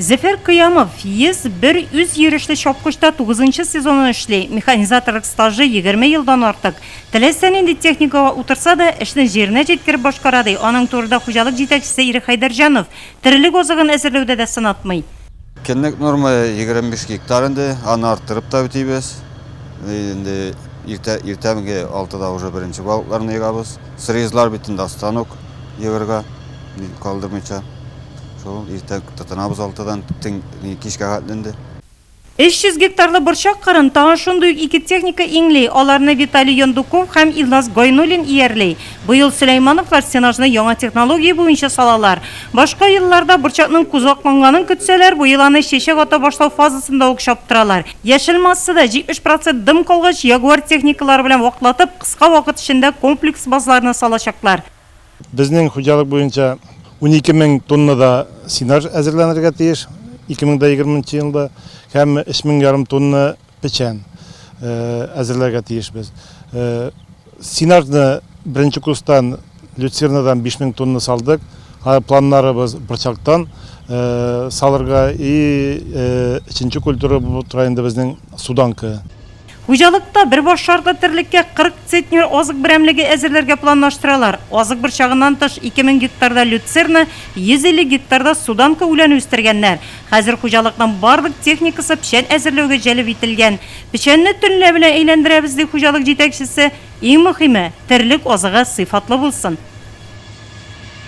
Зөфәр Кыямов 101 үзйөрешле чапкычта тугызынчы сезонын эшли. Механизаторлык стажы, егерме елдан артык. Теләсә нинди техникага утырса да, эшне җиренә җиткереп башкара, ди. Аның турында хуҗалык җитәкчесе Ирек Хәйдәрҗанов, Терелек азыгын әзерләүдә дә сынатмый. Көнлек норма 25 гектар инде, аны арттырып та үтибез. Инде иртә, иртәнге алтыда уже беренче балыкларны егабыз. Срезлар бит инде астан ук егырга калдырмыйча. Шул иртә тотынабыз алтыдан, кичкә хәтле инде. 300 гектарлы борчак кырын тагын шундый ук ике техника иңли, аларны Виталий Яндуков һәм Илназ Гайнуллин иярли. Быел Сөләймановлар сенажны яңа технология буенча салалар. Башка елларда борчакның кузгакланганын көтсәләр, быел аны чәчәк ата башлау фазасында ук чаптыралар. Яшел массада 70 процент дым калгач, Ягуар техникалары белән ваклатып, Кыска вакыт эчендә комплекс базларны салачаклар. Безнең хуҗалык буенча унике мең тонна да сенаж әзерләнергә тиеш 2020 нчы елда һәм өч мең ярым тонна печән әзерләргә тиешбез. Сенажны беренче курстан люцернадан биш мең тонна салдык. Хәзер планнарыбыз борчактан салырга и өченче культура булып тора инде безнең суданка. Хуҗалыкта бер башарда терлеккә 40 центнер азык берәмлеге әзерләргә планлаштыралар. Азык борчагыннан тыш, 2000 гектарда люцерна, 150 гектарда суданка үләне үстергәннәр. Хәзер хуҗалыкның барлык техникасы печән әзерләүгә җәлеп ителгән. Печәнне төнлә белән әйләндерәбез, ди хуҗалык җитәкчесе. Иң мөһиме, терлек азыгы сыйфатлы булсын.